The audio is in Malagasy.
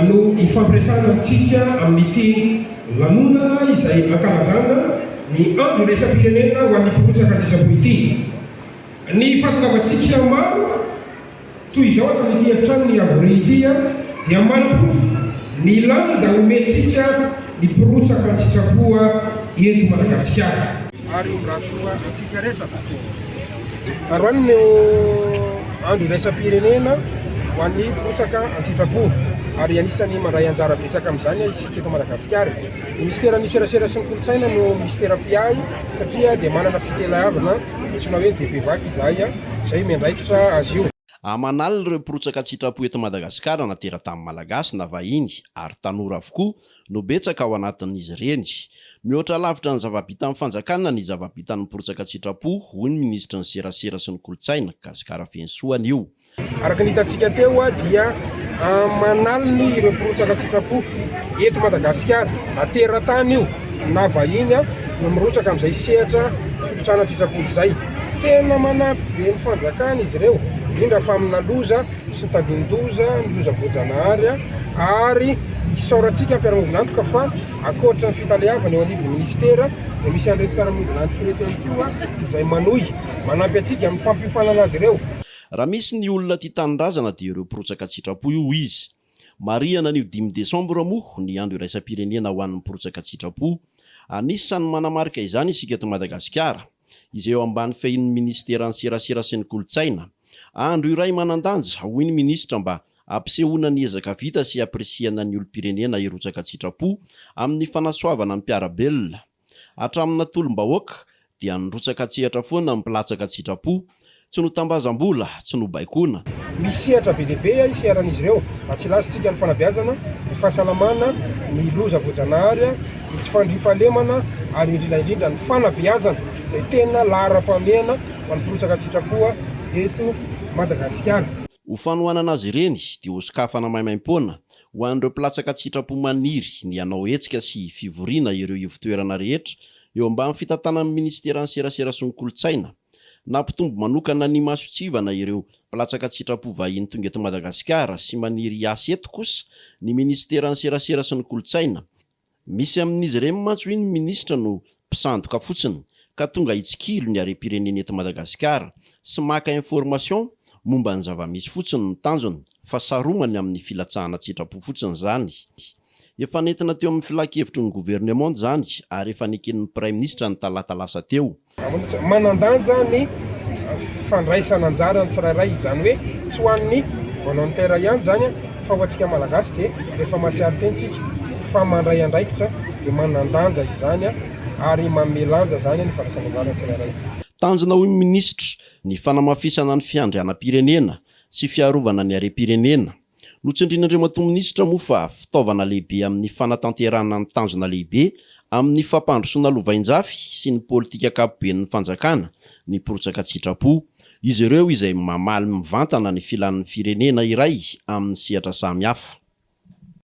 no hifampiresahana amintsika amin'ity lanonana izay ankalazana ny andro iraisam-pirenena ho an'ny mpirotsaka an-tsitrapo ity. Ny fahatongavantsika maro toy izao ato amin'ity efitrano niavoria ity dia manaporofo ny lanja omentsika ny mpirotsaka an-tsitrapo eto Madagasikara. ary ho rasoa antsika rehetra. Androany no andro iraisam-pirenena ho an'ny mpirotsaka an-tsitrapo ary anisan'ny mandray anjara betsaka amin'izany isika eto Madagasikara. Ny minisiteran'ny serasera sy ny kolontsaina no minisitera mpiahy satria dia manana fitelahavana antsoina hoe DPVAC izahay izay miandraikitra azy io. Aman'alina ireo mpirotsaka an-tsitrapo eto Madagasikara na tera-tany Malagasy na vahiny ary tanora avokoa no betsaka ao anatin'izy ireny. Mihoatra lavitra ny zava-bitan'ny fanjakana ny zava-bitan'ny mpirotsaka an-tsitrapo, hoy ny minisitry ny Serasera sy ny kolontsaina, Gasy Karafenisoa anio. Araka ny hitantsika teo dia aman'aliny ireo mpirotsaka an-tsitrapo eto Madagasikara na teratany io na vahiny no mirotsaka amin'izay sehatra firotsana an-tsitrapo izay. Tena manampy be ny fanjakana izy ireo indrindra fa amina loza. sy tadin-doza ny loza voajanahary ary isaorantsika mpiara-miombon'antoka fa ankoatry ny fitaleavana eo anivon'ny minisitera dia misy an'ireto mpiara-miombon'antoka ireto ihany koa izay manohy manampy antsika amin'ny fampiofanana azy ireo. Raha misy ny olona tia tanindrazana dia ireo mpirotsaka an-tsitrapo io, hoy izy. Marihana anio dimy desambra moa ny andro iraisam-pirenena ho an'ny mpirotsaka an-tsitrapo. Anisan'ny manamarika izany isika eto Madagasikara. izay eo ambany fehin'ny minisiteran'ny Serasera sy ny Kolontsaina. Andro iray manan-danja, hoy ny minisitra, mba hampisehoana ny ezaka vita sy hampirisihana ny olom-pirenena hirotsaka an-tsitrapo amin'ny fanasoavana ny mpiara-belona. Hatramin'ny natolom-bahoaka dia nirotsaka an-tsehatra foana ny mpilatsaka an-tsitrapo, Tsy notambazam-bola, tsy nobaikoana. Misy sehatra be dia be hiseharan'izy ireo. Atsilazontsika ny fanabeazana, ny fahasalamana, ny loza voajanahary, ny tsy fandriampahalemana ary indrindra indrindra ny fanabeazana izay tena laharam-pahamehana mampirotsaka an-tsitrapo eto Madagasikara. Ho fanohanana azy ireny dia hosokafana maimaim-poana ho an'ireo mpilatsaka an-tsitrapo maniry ny hanao hetsika sy fivoriana ireo ivontoerana rehetra eo ambany fitantanan'ny Minisiteran'ny Serasera sy ny Kolontsaina, Nampitombo manokana ny mason-tsivana ireo mpilatsaka an-tsitrapo vahiny tonga eto Madagasikara sy maniry hiasa eto kosa ny minisiteran'ny Serasera sy ny Kolontsaina. Misy amin'izy ireny mantsy hoy ny minisitra no mpisandoka fotsiny ka tonga hitsikilo ny harem-pirenena eto Madagasikara sy maka information momba ny zava-misy fotsiny no tanjony fa saromany amin'ny filatsahana an-tsitrapo fotsiny izany. Efa nentina teo amin'ny Filan-kevitry ny Governemanta izany ary efa neken'ny Praiminisitra ny talata lasa teo. Manan-danja ny fandraisana anjaran'ny tsirairay, izany hoe tsy ho an'ny volontaire ihany izany fa ho antsika Malagasy dia rehefa mahatsiaro tena isika fa mandray andraikitra dia manan-danja izany ary manome lanja izany ny fandraisana anjaran'ny tsirairay. Tanjona hoy ny Minisitra ny fanamafisana ny fiandrianam-pirenena sy fiarovana ny harem-pirenena. Notsindrin'Andriamatoa Minisitra moa fa fitaovana lehibe amin'ny fanatanterahana ny tanjona lehibe amin'ny fampandrosoana lovainjafy sy ny politika ankapoben'ny Fanjakana ny mpirotsaka an-tsitrapo. Izy ireo izay mamaly mivantana ny filan'ny firenena iray amin'ny sehatra samihafa.